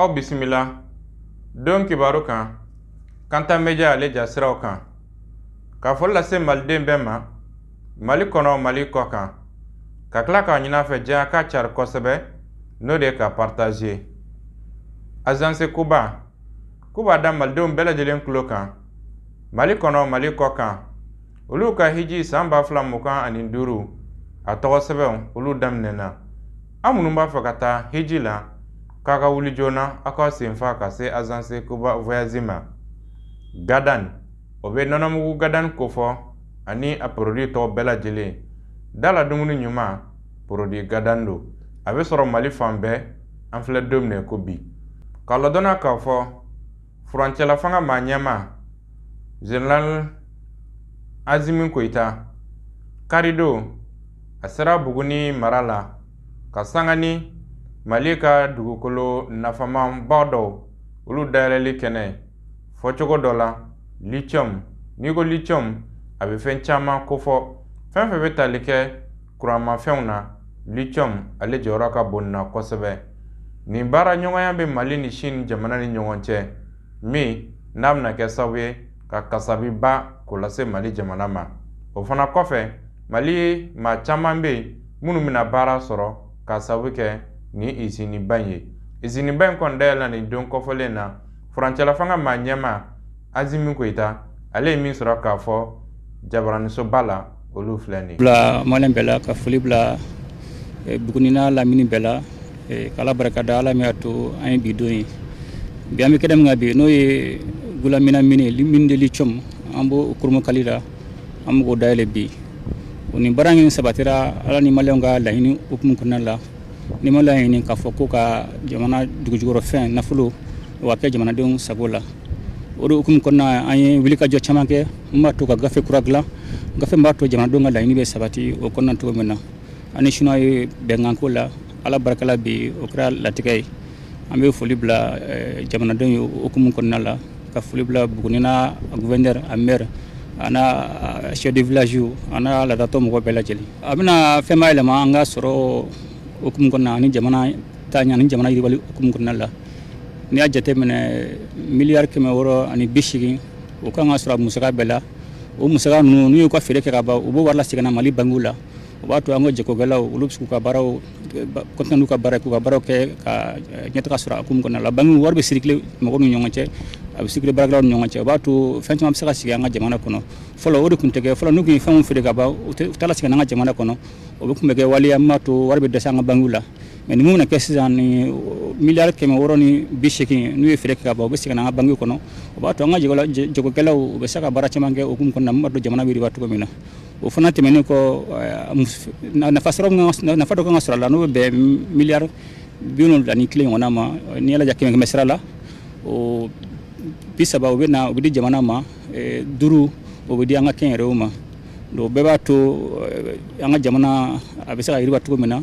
aw bisimila don kibaru kan kanta media ale jasiraw kan ka foli lase maliden bɛɛ ma mali kɔnɔ mali kɔ kan ka tila k'a ɲin'a fɛ diɲɛ k'a cari kosɛbɛ n'o de ye k'a partager azanse kuba k'u b'a da malidenw bɛɛ lajɛlen tulo kan mali kɔnɔ mali kɔ kan olu ka hiji san ba fila mugan ani duuru a tɔgɔ sɛbɛnw olu daminɛna Aw minnu b'a fɛ ka taa hiji la k'a ka wuli joona aw ka senfa ka se azanse koba voyage ma gadan o bɛ nɔnɔmugu gadan kofɔ ani a porodi tɔw bɛɛ lajɛlen da la dumuni ɲuman porodi gadan don a bɛ sɔrɔ mali fan bɛɛ an filɛ don min na ko bi k'a ladɔnna k'a fɔ furancɛla fanga maa ɲɛmaa general asimi goyita karidon a sera buguni mara la ka sanga ni mali ka dugukolo nafamanba dɔw olu dayɛlɛli kɛnɛ fɔcogo dɔ la lithium n'i ko lithium a bɛ fɛn caman kofɔ fɛn fɛn bɛ tali kɛ kuranmafɛnw na lithium ale jɔyɔrɔ ka bon na kosɛbɛ nin baara ɲɔgɔnya bɛ mali ni sini jamana ni ɲɔgɔn cɛ min n'a bɛna kɛ sababu ye ka kasabiba k'o lase mali jamana ma o fana kɔfɛ maliyɛn maa caman bɛ yen minnu bɛna baara sɔrɔ k'a sababu kɛ nin iziniba in ye iziniba in kɔni dayɛlɛla nin don kofɔlen na furancɛlafanga maa ɲɛmaa asimi goyita ale ye min sɔrɔ k'a fɔ jabaranisoba la olu filɛ nin bila maliyɛn bɛɛ la ka foli bila e, buguni n'a lamini bɛɛ la e, k'ala barika da ala min y'a to an ye bi don ye bi an bɛ kɛnɛ min kan bi n'o ye gulamina mini mine de lithium an b'o kurunbonkari la an bɛ k'o dayɛlɛ bi o nin baara in sabatira ala ni maliyɛnw ka laɲini hukumu kɔnɔna la ni ma laɲini k'a fɔ k'u ka jamana dugujukɔrɔfɛn nafolo o ka kɛ jamanadenw sago la o de hukumu kɔnɔna an ye wulikajɔ caman kɛ min b'a to ka gafe kura dilan gafe min b'a to jamanadenw ka laɲini bɛ sabati o kɔnɔna cogo min na an ni siniwa ye bɛnkan k'o la ala barika la bi o kɛra latigɛ ye an bɛ foli bila eh, jamanadenw ye hukumu kɔnɔna la ka foli bila buguni n'a gouverneur a maire a n'a chef de village a n'a laadatɔn mɔgɔ bɛɛ lajɛlen a bɛna fɛnba yɛlɛma an ka sɔrɔ hukumu kɔnɔna ani jamana taaɲɛ ni jamana yiriwali hukumu kɔnɔna la n'i y'a jateminɛ miliyari kɛmɛ wɔɔrɔ ani bi seegin o kan ka sɔrɔ a musaka bɛɛ la o musaka ninnu n'u y'u ka feere kɛ ka ban u b'o wari lasegin na mali bankiw la o b'a to an ka jagokɛlaw olu bɛ se k'u ka baaraw kɔntine n'u ka baara k'u ka baaraw kɛ ka eh, ɲɛtaga sɔrɔ a hukumu kɔnɔna la bankiw wari bɛ sirikile mɔgɔw ni ɲɔgɔn cɛ a bɛ sirikile baarakɛlaw ni ɲɔgɔn cɛ o b'a to fɛn caman bɛ se ka sigi an ka jamana kɔnɔ fɔlɔ o de tun tɛ kɛ fɔlɔ n'u tun ye fɛnw feere ka ban u tɛ u t'a lasegin an ka jamana kɔnɔ o bɛ tun bɛ kɛ waleya min b'a to wari bɛ dɛsɛ an ka bankiw la mɛ ni min bɛna kɛ sisan ni miliyari kɛmɛ wɔɔrɔ ni bi segin n'u ye feere kɛ ka ban u bɛ segin an ka bankiw kɔnɔ o b'a to an ka jagokɛlaw u bɛ se ka baara caman kɛ o hukumu kɔnɔ min b'a to jamana bɛ yiriwa cogo min na o fana tɛmɛnen kɔ nafa nafa dɔ kan ka sɔrɔ a la n'o bɛ bɛn miliyari bi wolonwula ni kelen ɲɔgɔnna ma n'i y'a lajɛ kɛmɛ kɛmɛ sira la o bi saba u bɛ na u bɛ di jamana ma eh, duuru o bɛ di an ka kɛnyɛrɛyew ma donc o bɛɛ b'a to eh, an ka jamana a bɛ se ka yiriwa cogo min na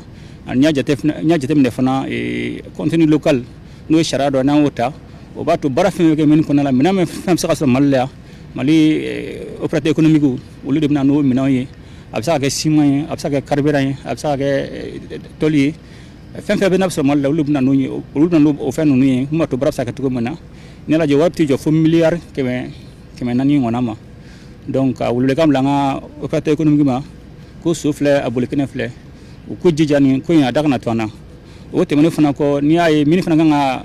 n'i y'a jateminɛ fana eh, contenu local n'o ye sariya dɔ n'an y'o ta o b'a to baara fɛn fɛn kɛ mine kɔnɔna la minɛn fɛn bɛ se ka sɔrɔ mali la yan mali eh, opérateur économique olu de bɛna n'o minɛnw ye a bɛ se ka kɛ siman ye a bɛ se ka kɛ carburant ye a bɛ se ka kɛ eh, toli ye fɛn fɛn bɛ n'a bɛ sɔrɔ mali la olu bɛna n'o ye olu bɛna n'o fɛn ninnu ye mun b'a to baara bɛ se ka kɛ cogo min na n'i y'a lajɛ wari tɛ jɔ fo miliyari kɛmɛ kɛmɛ naani ɲɔgɔnna ma donc ka welewelekan bila an ka opérateur économique ma ko so filɛ a boli kɛnɛ filɛ u k'u jija nin ko in a da kana to an na o tɛmɛnen fana kɔ n'i y'a ye mine fana kan ka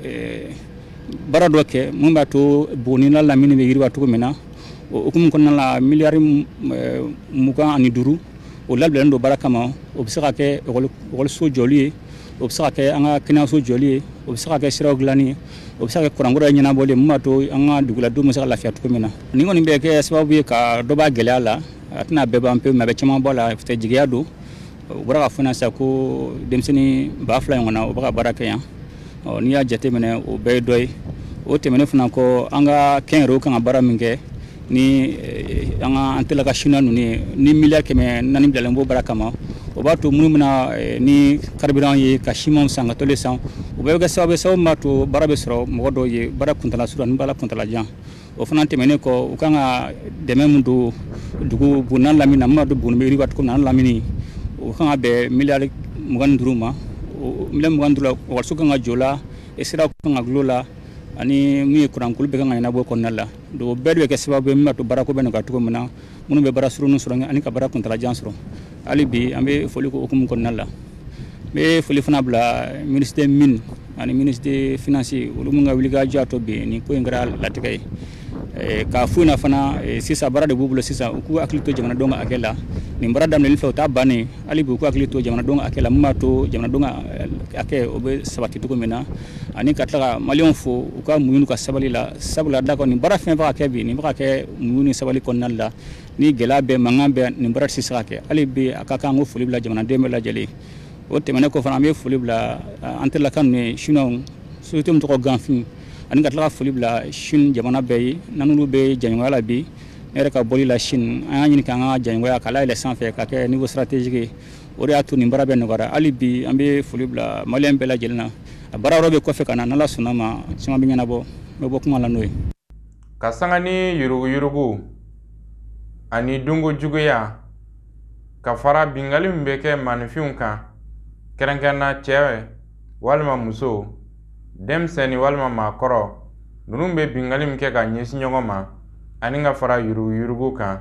eh, baara dɔ kɛ mun b'a to buguni n'a lamini bɛ yiriwa cogo min na o hukumu kɔnɔna la miliyari m- eh, mugan ani duuru o labilalen don baara kama o bɛ se ka kɛ ekɔli- ekɔliso jɔli ye o bɛ se ka kɛ an ka kɛnɛyaso jɔli ye o bɛ se ka kɛ siraw dilanni ye o bɛ se ka kɛ kuranko ɲɛnabɔli ye mun b'a to an ka duguladenw bɛ se ka lafiya cogo min na nin kɔni bɛ kɛ sababu ye ka dɔ b'a gɛlɛya la a tɛna bɛɛ ban pewu mɛ a bɛ caman bɔ a la jigiya don u bɔra k'a fɔ na sisan ko denmisɛnnin ba fila ɲɔgɔnna u bɛ ka baara kɛ yan n'i y'a jateminɛ o bɛɛ ye dɔ ye o tɛmɛnen fana kɔ an ka kɛnyɛrɛyew kan ka baara min kɛ ni eh, an ka an tɛla ka chinois ninnu ye ni miliyari kɛmɛ naani bilalen b'o baara kama o b'a to minnu bɛna eh, ni carburant ye ka siman san ka toli san o bɛɛ bɛ kɛ sababu ye sababu min b'a to baara bɛ sɔrɔ mɔgɔ dɔw ye baara kuntala surun ani baara kuntala jan o fana tɛmɛnen kɔ u kan ka dɛmɛ min don dugu buguni n'a lamini na min b'a to buguni bɛ yiriwa cogo min na n'a lamini o kan ka bɛn miliyari mugan ni duuru ma miliyari mugan duuru ekɔliso kan ka jɔ o la eh, sira kan ka dilan o la ani min ye kuranko olu bɛɛ kan ka ɲɛnabɔ kɔnɔna la donc o bɛɛ de bɛ kɛ sababu ye min b'a to baarako bɛna kɛ cogo min na minnu bɛ baara surunnin sɔrɔ ani ka baara kuntala jan sɔrɔ hali bi an bɛ foli kɛ o hukumu kɔnɔna la n bɛ foli fana bila ministre mine ani ministre finance olu minnu ka wulikajɔ y'a to bi nin ko in kɛra latigɛ ye eh, k'a fo na fana eh, sisan baara de b'u bolo sisan u k'u hakili to jamanadenw ka hakɛ la nin baara daminɛli fɛ o t'a bannen hali bi u k'u hakili to jamanadenw ka hakɛ la min b'a to jamanadenw ka eh, hakɛ o bɛ sabati cogo min na ani ka tila ka maliyɛnw fo u ka muɲu n'u ka sabali la sabula d'a kan nin baara fɛn fɛn bɛ ka kɛ bi nin bɛ ka kɛ muɲu ni sabali kɔnɔna la ni gɛlɛya bɛ mankan bɛ nin baara tɛ se ka kɛ hali bi a ka kan k'o foli bila jamanaden bɛɛ lajɛlen o tɛmɛnen kɔ fana an bɛ foli bila an tɛlaka ninnu ye chinois société min tɔgɔ Ganfeng ani ka tila ka foli bila chine jamana bɛɛ ye n'olu bɛ jɛɲɔgɔnya la bi ne yɛrɛ ka bɔli la chine an y'a ɲini k'an ka jɛɲɔgɔnya k'a layɛlɛ sanfɛ ka kɛ niveau stratégique ye o de y'a to nin baara bɛɛ nɔgɔyara hali bi an bɛ foli bila maliyɛn bɛɛ lajɛlen na a baara yɔrɔ bɛ kɔfɛ ka na n'ala sɔnna a ma caman bɛ ɲɛnabɔ n bɛ bɔ kuma la n'o ye ka sanga ni yuruguyurugu ani dunko juguya ka fara bingali min bɛ kɛ maaninfinw kan kɛrɛnkɛrɛnna cɛ walima muso denmisɛnnin walima maakɔrɔ ninnu bɛ bingali min kɛ ka ɲɛsin ɲɔgɔn ma ani ka fara yuruguyurugu kan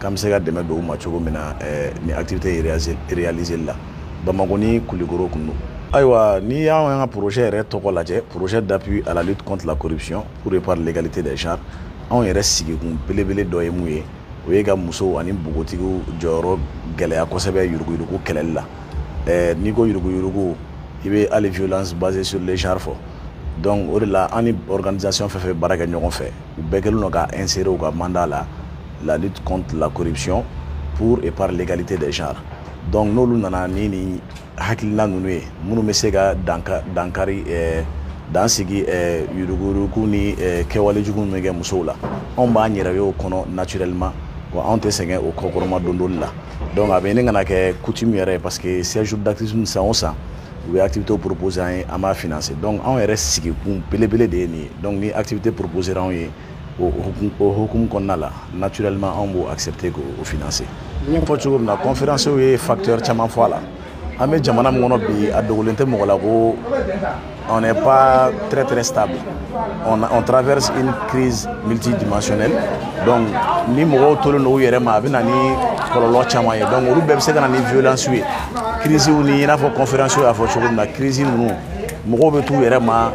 k'an bɛ se ka dɛmɛ don u ma cogo min na eh, ni activité réaliseli la bamakɔ ni kulikoro kɔnɔ ayiwa n'i y'an y'an ka projet yɛrɛ tɔgɔ lajɛ projet d'appui à la lutte contre la corruption pour et par l'égalité des genres anw yɛrɛ sigikun belebele dɔ ye mun ye o ye ka musow ani npogotigiw jɔyɔrɔ gɛlɛya kosɛbɛ yuruguyurugu kɛlɛli la eh, n'i ko yuruguyurugu i bɛ hali violence basée sur le genre fɔ donc o de la an ni organisation fɛn fɛn bɛ baara kɛ ɲɔgɔn fɛ u bɛɛ kɛlen don ka insérer u ka mandat la la lutte contre la corruption pour et par l'égalité des genres donc n'olu nana ni nin hakilina ninnu ye minnu bɛ se ka danka dankari eh, dan sigi eh, yuruguyurugu ni eh, kɛwale jugu min bɛ kɛ musow la anw b'an yɛrɛ ye o kɔnɔ naturellement wa anw tɛ sɛgɛn o kɔkɔrɔmadondoli la donc a bɛ ɲini ka na kɛ coutume yɛrɛ ye parce que 16 jours d'activisme san o san u bɛ activité proposer an ye an b'a financer donc anw yɛrɛ sigikun belebele de ye nin ye donc ni activité proposera anw ye o hukumu kɔnɔna la naturellement anw b'o accepter k'o financer n y'a fɔ cogo min na conférence ye facteur caman fɔ a la an bɛ jamana min kɔnɔ bi a dogolen tɛ mɔgɔ la ko on n'est pas très très stable On, on traverse une crise multidimensionnelle donc ni mɔgɔw tolen don u yɛrɛ ma a bɛ na ni kɔlɔlɔ caman ye donc olu bɛɛ bɛ se ka na ni violence ye crise ni i n'a fɔ conférence y'a fɔ cogo min na crise ninnu mɔgɔw bɛ t'u yɛrɛ ma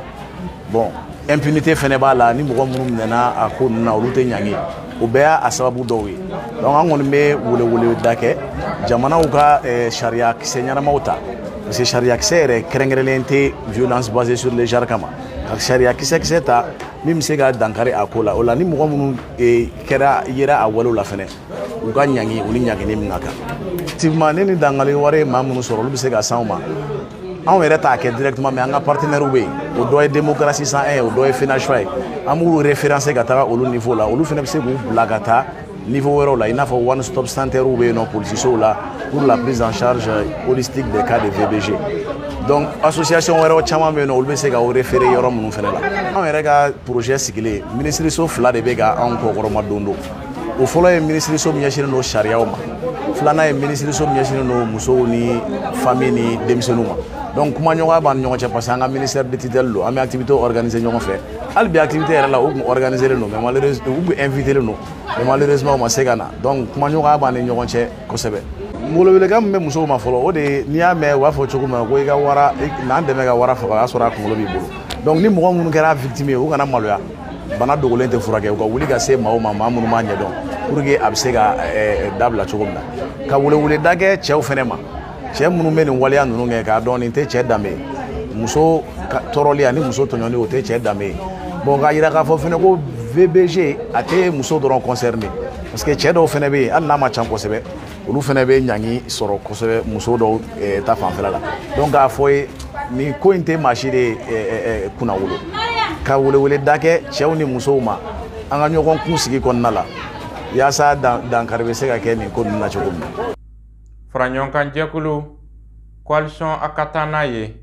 bon impunité fɛnɛ b'a la ni mɔgɔ minnu minɛna a ko ninnu na olu tɛ ɲangi o bɛɛ y'a sababu dɔw ye donc an kɔni bɛ weleweleda kɛ jamanaw ka eh, sariya kisɛ ɲɛnamaw ta parce que sariya kisɛ yɛrɛ kɛrɛnkɛrɛnlen tɛ violence basée sur le genre kama ka sariya kisɛkisɛ ta min bɛ se ka dankari a ko la o la ni mɔgɔ minnu eh, kɛra yera a walew la fɛnɛ u ka ɲangi u ni ɲangini min ka kan effectivement eh, ni dankari wale ye maa minnu sɔrɔ olu bɛ se ka se an ma anw yɛrɛ t'a kɛ directement mais an ka partenaires bɛ yen o dɔ ye démocratie 101 ye o dɔ ye FENACFA ye an b'u référencer ka taga olu niveau la olu fana bɛ se k'u bila ka taa niveau wɛrɛw la i n'a fɔ one stop centerew bɛ yen nɔ polisisow la pour la prise en charge holistique des cas de VBG donc association wɛrɛw caman bɛ yen nɔ olu bɛ se ka o référé yɔrɔ minnu fɛnɛ la anw yɛrɛ ka projet sigilen minisiriso fila de bɛ ka anw kɔkɔrɔma don don o fɔlɔ ye minisiriso min ɲɛsinnen don sariyaw ma filanan ye minisiriso min ɲɛsinnen don musow ni famille ni denmisɛnninw ma donc kumaɲɔgɔnya b'an ni ɲɔgɔn cɛ parce que an ka ministère de tutelle don an bɛ activité organiser ɲɔgɔn fɛ hali bi activité yɛrɛ la u tun organisé len don mais malheureusement u tun invité len don mais malheureusement u ma se ka na donc kumaɲɔgɔnya b'an ni ɲɔgɔn cɛ kosɛbɛ n bolo welekan min bɛ musow ma fɔlɔ o de ye n'i y'a mɛn u b'a fɔ cogo min na ko i ka wara na n dɛmɛ ka wara faga o y'a sɔrɔ a kunkolo b'i bolo donc ni mɔgɔ minnu kɛra victime ye u kana maloya bana dogolen tɛ furakɛ u ka wuli ka se maaw ma maa minnu b'a ɲɛdɔn pour que a bɛ se ka dabila cogo min na ka weleweleda kɛ cɛw fɛnɛ ma cɛ minnu bɛ nin waleya ninnu kɛ k'a dɔn nin tɛ cɛ danbe ye muso tɔɔrɔli ani muso tɔɲɔni o tɛ cɛ danbe ye bon k'a yira k'a fɔ fɛnɛ ko VBG a tɛ muso dɔrɔn concerné parce que cɛ dɔw fɛnɛ bɛ yen hali n'a ma ca kosɛbɛ olu fɛnɛ bɛ ɲangi sɔrɔ kosɛbɛ muso dɔw eh, ta fanfɛla la donc k'a fɔ ye nin ko in tɛ maa si de eh, eh, kunnawolo ka weleweleda kɛ cɛw ni musow ma an ka ɲɔgɔn kun sigi kɔnɔna la yaasa dankari bɛ se ka kɛ nin ko ninnu na cogo min na faraɲɔgɔnkanjɛkulu coalition a ka taa n'a ye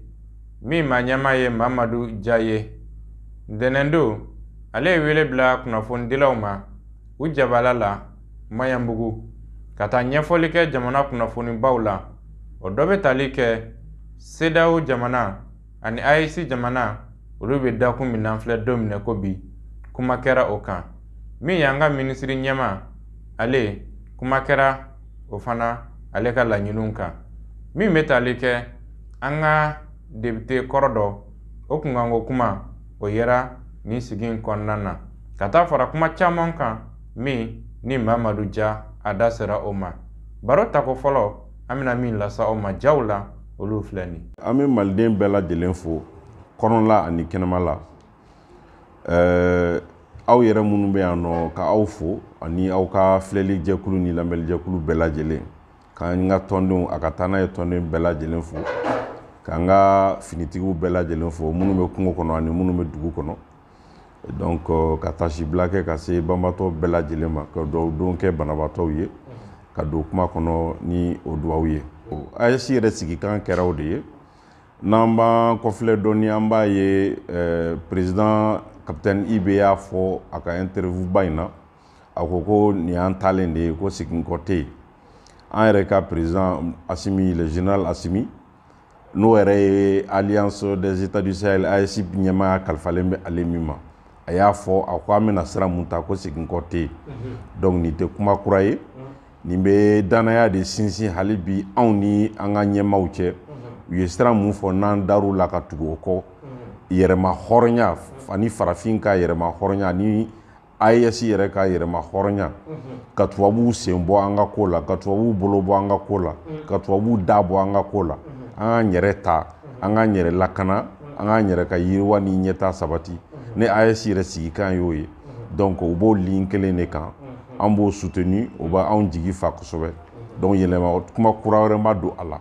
min ma ɲɛmaa ye mamadu ja ye ntɛnɛn don ale ye wele bila kunnafonidilaw ma u jabala la maɲanbugu ka taa ɲɛfɔli kɛ jamana kunnafonibaw la o dɔ bɛ tali kɛ CEDEAO jamana ani AES jamana olu bɛ dakun min na filɛ don minɛ ko bi kuma kɛra o kan min y'an ka minisiri ɲɛmaa ale kuma kɛra o fana ale ka laɲiniw kan min bɛ tali kɛ an ka depite kɔrɔ dɔ o kunkanko kuma o yera nin sigi in kɔnɔna na ka taa fara kuma caman kan min ni mamadu ja a da sera o ma baro tako fɔlɔ an bɛna min lase aw ma jaw la olu filɛ nin an bɛ maliden bɛɛ lajɛlen fo kɔnɔla ani kɛnɛma la ɛɛ aw yɛrɛ minnu bɛ yan nɔ ka aw fo ani aw ka filɛli jɛkulu ni lamɛnli jɛkulu bɛɛ lajɛlen k'an ka tɔndenw a ka taa n'a ye tɔnden bɛɛ lajɛlen fo k'an ka finitigiw bɛɛ lajɛlen fo minnu bɛ kungo kɔnɔ ani minnu bɛ dugu kɔnɔ donc euh, ka taasibila kɛ ka se banbaatɔ bɛɛ lajɛlen ma ka dugawu don kɛ banabaatɔw ye ka don kuma kɔnɔ ni o dugawu ye AES yɛrɛ sigikan kɛra o de ye n'an b'an kɔfilɛ dɔɔni an b'a ye euh, président capitaine ibe y'a fɔ a ka interview ba in na a ko ko nin y'an taalen de ye ko seginkɔ tɛ yen an yɛrɛ ka président asimi le général asimi n'o yɛrɛ ye alliance des états du sahel AES ɲɛmaaya kalifalen bɛ ale min ma a y'a fɔ a ko an bɛna sira mun ta ko seginkɔ tɛ yen donc nin tɛ kuma kura ye nin bɛ dannaya de sinsin hali bi anw ni an ka ɲɛmaaw cɛ u ye sira mun fɔ n'an dar'u la ka tugu o kɔ yɛrɛma hɔrɔnya ani farafin ka yɛrɛma hɔrɔnya ani AES yɛrɛ ka yɛrɛma hɔrɔnya ka tubabuw sen bɔ an ka ko la ka tubabuw bolo bɔ an ka ko la ka tubabuw da bɔ an ka ko la an k'an yɛrɛ ta an k'an yɛrɛ lakana an k'an yɛrɛ ka yiriwa ni ɲɛtaa sabati ne AES yɛrɛ sigikan y'o ye donc u b'o ligne kelen de kan an b'o soutenu o bɛ anw jigi fa kosɛbɛ donc yɛlɛma kuma kura wɛrɛ ma don a la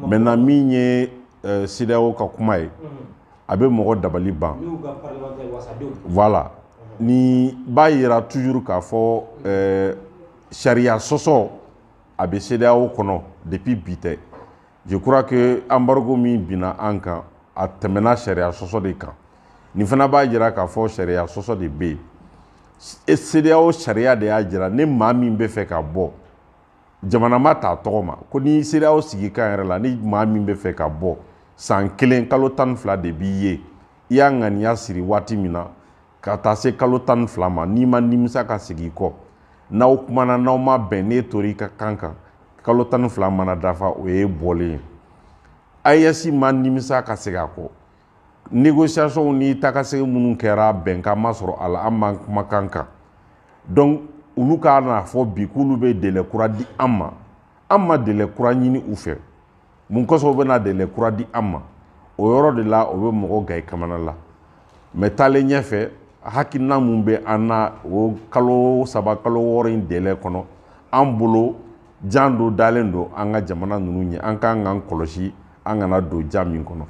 maintenant min ye CEDEAO ka kuma ye a bɛ mɔgɔ dabali ban voilà nin b'a yira toujours k'a fɔ euh, sariya sɔsɔ a bɛ CEDEAO kɔnɔ depuis bi tɛ je crois que embargo min binna an kan a tɛmɛna sariya sɔsɔ de kan nin fana b'a jira k'a fɔ sariya sɔsɔ de bɛ yen CEDEAO sariya de y'a jira ni maa min bɛ fɛ ka bɔ jamana ma t'a tɔgɔ ma ko ni CEDEAO sigikan yɛrɛ la ni maa min bɛ fɛ ka bɔ san kelen kalo tan ni fila de b'i ye i y'a ŋaniya siri waati min na ka taa se kalo tan ni fila ma n'i ma nimisa ka segin i kɔ n'aw kumana n'aw ma bɛn n'e tor'i ka kan kan kalo tan ni fila mana dafa o ye bɔlen ye AES ma nimisa ka segin a kɔ négociations ni taakasegin minnu kɛra bɛnkan ma sɔrɔ a la an b'an kumakan kan donc olu ka n'a fɔ bi k'olu bɛ délai kura di an ma an ma délai kura ɲini u fɛ mun kosɔn u bɛna délai kura di an ma o yɔrɔ de la o bɛ mɔgɔ gan i kamana la mais taalen ɲɛfɛ hakilina mun bɛ an na o kalo saba kalo wɔɔrɔ in délai kɔnɔ an bolo jan dɔ dalen don an ka jamana ninnu ɲɛ an kan k'an kɔlɔsi an kana don jan min kɔnɔ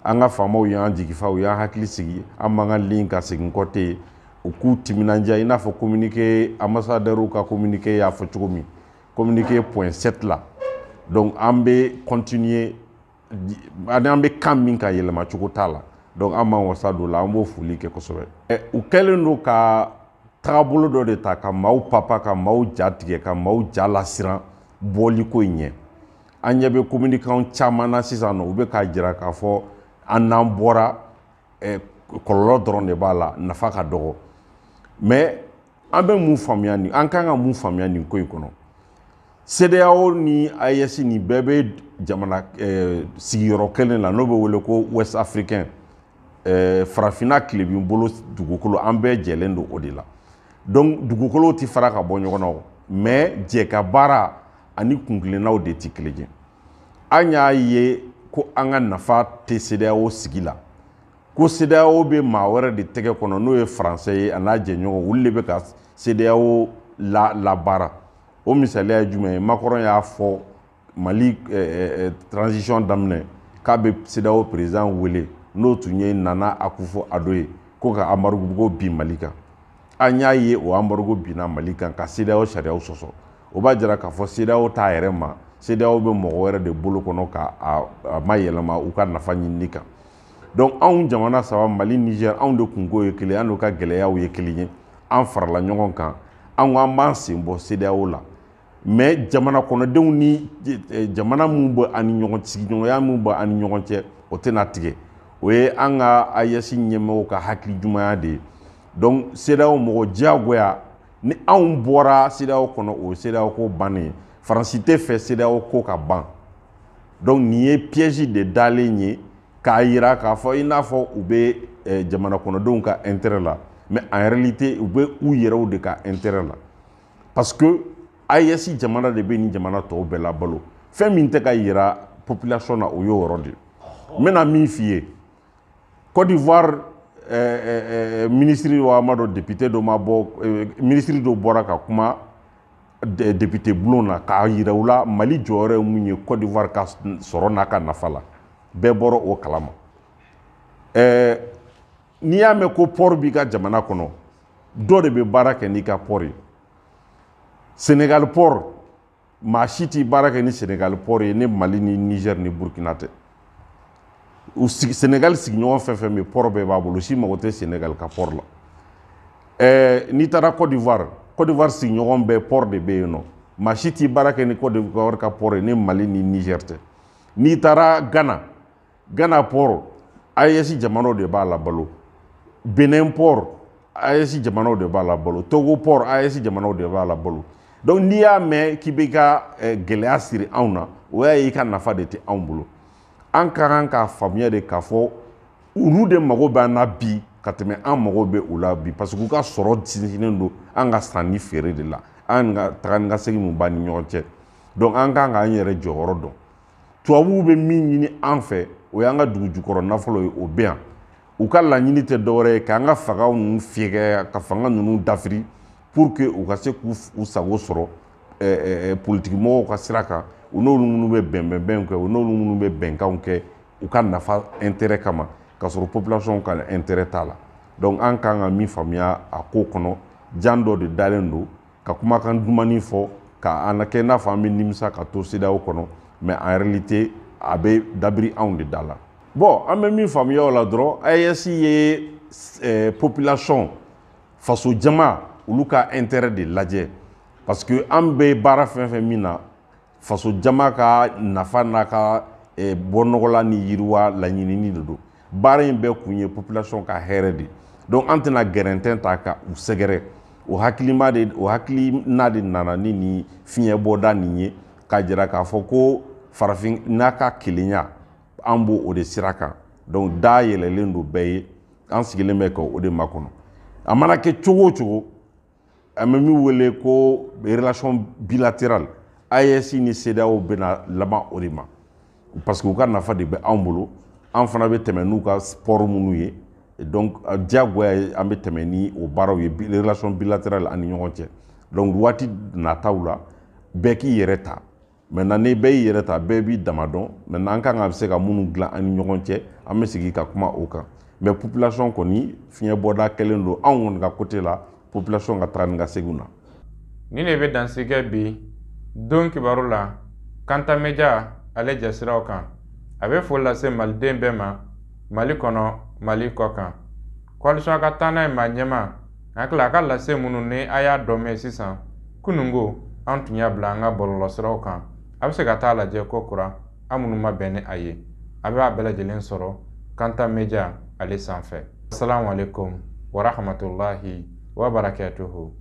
an ka faamaw y'an jigifa u y'an hakili sigi an b'an ka ligne kan segin kɔ tɛ yen u k'u timinandiya i n'a fɔ communiqué ambassadeurw ka communiqué y'a fɔ cogo min communiqué point sept la donc an bɛ continuer an bɛ kan min kan yɛlɛma cogo t'a la donc an b'an wasa don la an b'o foli kɛ kosɛbɛ u kɛlen don ka tagabolo dɔ de ta ka maaw papa ka maaw ja tigɛ ka maaw ja lasiran bɔliko in ɲɛ an ɲɛ bɛ communicantw caman na sisan nɔ u bɛ k'a jira k'a fɔ an n'an bɔra eh, kɔlɔlɔ dɔrɔn de b'a la nafa ka dɔgɔ mais an bɛ mun faamuya nin an kan ka mun faamuya nin ko in kɔnɔ CEDEAO ni AES nin bɛɛ bɛ jamana eh, sigiyɔrɔ kelen la n'o bɛ wele ko Ouest Africain eh, farafinna tilebin bolo dugukolo an bɛɛ jɛlen don o de la donc dugukolow tɛ fara ka bɔ ɲɔgɔn na o mais jɛ ka baara ani kuntilennaw de tɛ kelen ye an y'a ye ko an ka nafa tɛ CEDEAO sigi la ko CEDEAO bɛ maa wɛrɛ de tɛgɛ kɔnɔ n'o ye faransɛ ye a n'a jɛɲɔgɔn olu de bɛ ka CEDEAO labaara o misaliya ye jumɛn ye Macron y'a fɔ Mali eh, eh, eh, transition daminɛ k'a bɛ CEDEAO président wele n'o tun ye Nana Akufo-Addo ye ko ka embargo bin Mali kan an y'a ye o embargo binna mali kan ka CEDEAO sariyaw sɔsɔ o b'a jira k'a fɔ CEDEAO t'a yɛrɛ ma CEDEAO bɛ mɔgɔ wɛrɛ de bolo kɔnɔ ka a mayɛlɛma u ka nafa ɲinini kan donc anw jamana saba mali niger anw de kunko ye kelen an de ka gɛlɛyaw ye kelen ye an farala ɲɔgɔn kan an ko an b'an sen bɔ CEDEAO la mais jamana kɔnɔdenw ni eh, jamana minnu bɛ an ni ɲɔgɔn sigiɲɔgɔnya minnu bɛ an ni ɲɔgɔn cɛ o tɛna tigɛ o ye an ka AES ɲɛmɔgɔw ka hakili ɲumanya de ye donc CEDEAO mɔgɔ diyagoya ni anw bɔra CEDEAO kɔnɔ o ye CEDEAO ko bannen ye faransi tɛ fɛ CEDEAO ko ka ban donc nin ye piège de dalen ye k'a yira k'a fɔ i n'a fɔ u bɛ eh, jamana kɔnɔdenw ka intérêt la mais en réalité u bɛ u yɛrɛw de ka intérêt la parce que AES jamana de bɛ nin jamana tɔw bɛɛ labalo fɛn min tɛ ka yira population na o y'o yɔrɔ de ye n bɛna min f'i ye Côte d'Ivoire eh, eh, eh, minisiri wa ma dɔ député dɔ ma bɔ eh, minisiri dɔ bɔra ka kuma de- député bulon na k'a yira u la Mali jɔyɔrɔ ye mun ye Côte d'Ivoire ka s- sɔrɔ n'a ka nafa la bɛɛ bɔra o kalama eh, n'i y'a mɛn ko port b'i ka jamana kɔnɔ dɔ de bɛ baara kɛ n'i ka port ye Sénégal port maa si tɛ baara kɛ ni Sénégal port ye ni mali ni niger ni burkina tɛ u sigi Sénégal sigiɲɔgɔn fɛn fɛn bɛ port bɛɛ b'a bolo si mago tɛ Sénégal ka port la ɛɛ n'i taara Côte d'Ivoire Côte d'Ivoire sigiɲɔgɔn bɛɛ port de bɛ yen nɔ maa si tɛ baara kɛ ni Côte d'Ivoire ka port ye ni mali ni niger tɛ n'i taara ghana Ghana port AES jamanaw de b'a labalo Bénin port AES jamanaw de b'a labalo Togo port AES jamanaw de b'a labalo donc n'i y'a mɛn k'i bɛ ka eh, gɛlɛya siri anw na o y'a ye i ka nafa de tɛ anw bolo an ka kan k'a faamuya de k'a fɔ olu de mago b'an na bi ka tɛmɛ an mago bɛ u la bi parce que u ka sɔrɔ sinsinnen don an ka san ni feere de la an ka taga ni ka segin mun b'an ni ɲɔgɔn cɛ donc an kan k'an yɛrɛ jɔyɔrɔ dɔn tubabuw bɛ min ɲini an fɛ o y'an ka dugujukɔrɔ nafolo ye o bɛ yan u ka laɲini tɛ dɔwɛrɛ ye k'an ka fangaw ninnu fɛgɛya ka fanga ninnu dafiri pour que u ka se k'u sago sɔrɔ politikimɔgɔw ka sira kan u n'olu minnu bɛ bɛnbɛnbɛnw kɛ u n'olu minnu bɛ bɛnkanw kɛ u ka nafa intérêt kama k'a sɔrɔ population ka intérêt t'a la donc an kan ka min faamuya a ko kɔnɔ jan dɔ de dalen don ka kumakan dumani fɔ ka an kɛ n'a fɔ an bɛ nimisa ka to CEDEAO kɔnɔ mais en réalité a bɛ dabiri anw de da la bon an bɛ min faamuya o la dɔrɔn AES ye eh, population faso jama olu ka intérêt de lajɛ parce que an bɛ baara fɛn fɛn min na faso jama ka nafa n'a ka eh, bɔnɔgɔla ni yiriwa laɲinini de don baara in bɛɛ kun ye population ka hɛrɛ de donc an tɛna gɛrɛntɛn ta ka u sɛgɛrɛ o hakilima de o hakilina de nana ni nin fiɲɛ bɔda nin ye k'a jira k'a fɔ ko farafin n'a ka kelenya an b'o o de sira kan donc da yɛlɛlen don bɛɛ ye an sigilen bɛ ka o de makɔnɔ a mana kɛ cogo o cogo an bɛ min wele ko relation bilatérale AES ni CEDEAO bɛna laban o de ma parce que u ka nafa de bɛ anw bolo an fana bɛ tɛmɛ n'u ka port minnu ye donc diyagoya ye an bɛ tɛmɛ ni o baaraw ye relation bilatérale an ni ɲɔgɔn cɛ donc waati nataw la bɛɛ k'i yɛrɛ ta maintenant ni bɛɛ y'i yɛrɛ ta bɛɛ b'i dama dɔn maintenant an kan ka se ka minnu dilan an ni ɲɔgɔn cɛ an bɛ sigi ka kuma o kan mais population kɔni fiɲɛ bɔda kɛlen don anw kɔni ka côté la population ka taga ni ka seginw na nin de bɛ dansigɛ bi don kibaru la kanta media ale jasiraw kan a bɛ foli lase maliden bɛɛ ma mali kɔnɔ mali kɔkan coalition ka taa n'a ye maa ɲɛma a hakili a ka lase minnu ni a y'a dɔ mɛn sisan kununko an tun y'a bila an ka bɔlɔlɔsiraw kan a bɛ se ka t'a lajɛ ko kura an minnu ma bɛn ni a ye a bɛ a bɛɛ lajɛlen sɔrɔ kanta media ale sanfɛ asalaamualeykum warahmatulahi wabarakatuhu